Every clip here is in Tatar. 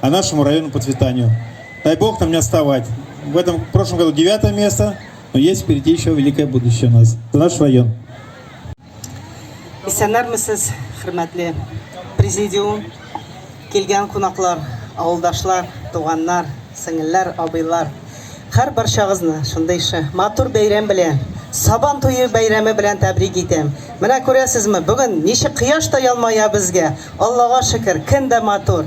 а нашему району процветанию. Дай Бог нам не отставать. В этом в прошлом году девятое место, но есть впереди еще великое будущее у нас. Это наш район. Исәннәрмесез, хөрмәтле президиум, килгән кунаклар, авылдашлар, туганнар, сеңелләр, абыйлар. Хәр барчагызны шундый ише матур бәйрәм белән, Сабан туе бәйрәме белән тәбрик итәм. Менә күрәсезме, бүген ничек кояш та ялмая безгә. Аллага шөкер, көн дә матур.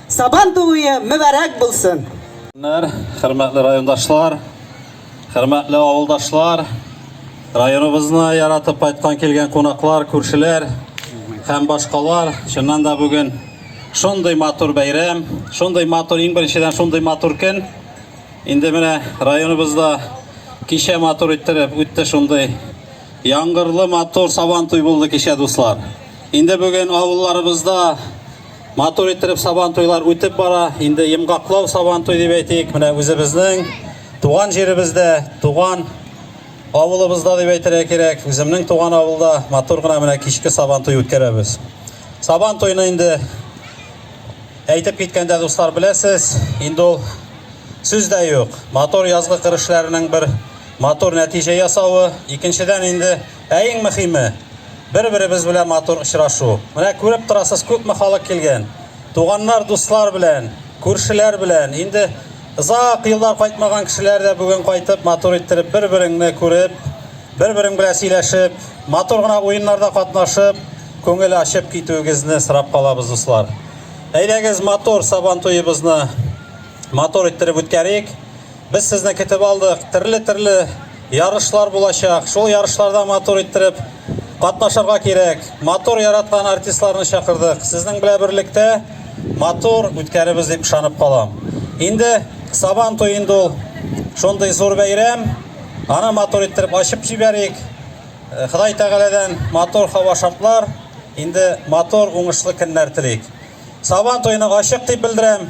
Сабан тууе мөбарәк булсын! Көннәр, хөрмәтле райондашлар, хөрмәтле авылдашлар, районыбызны яратып кайткан килгән кунаклар, күршеләр һәм башкалар, чыннан да бүген шундый матур бәйрәм, шундый матур, иң беренчедән шундый матур көн. Инде менә районыбызда кичә матур иттереп үтте шундый яңгырлы матур сабан туй булды кичә, дуслар. Инде бүген авылларыбызда Матур иттереп сабан туйлар үтеп бара. Инде йомгаклау сабан туй дип әйтик. Менә үзебезнең туган җиребездә, туган авылыбызда дип әйтергә кирәк. Үземнең туган авылда матур гына менә кичке сабан туй үткәрәбез. Сабан туйны инде әйтеп киткәндә дуслар беләсез, инде ул сүз дә юк. Матур язгы кыр эшләренең бер матур нәтиҗә ясавы, икенчедән инде Ә иң мөхиме, бер-беребез белән матур очрашу. Менә күреп торасыз, күпме халык килгән. Туганнар, дуслар белән, күршеләр белән. Инде озак еллар кайтмаган кешеләр дә бүген кайтып, матур иттереп, бер-береңне күреп, бер-берең белән сөйләшеп, матур гына уеннарда катнашып, күңел ачып китүегезне сорап калабыз, дуслар. Әйдәгез, матур Сабан туебызны матур иттереп үткәрик. Без сезне көтеп алдык. Төрле-төрле ярышлар булачак. Шул ярышларда матур иттереп катнашырга кирәк. Матур яраткан артистларны чакырдык. Сезнең белән берлектә матур үткәребез дип ышанып калам. Инде Сабан туе инде ул шундый зур бәйрәм. Аны матур иттереп ачып җибәрик. Э, Ходай Тәгаләдән матур һава шартлар, инде матур уңышлы көннәр телик. Сабан туены ачык дип белдерәм.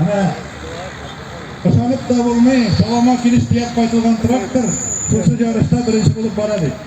Менә ышанып та булмый, салама килеш төяп кайтылган трактор шушы ярышта беренче булып бара бит.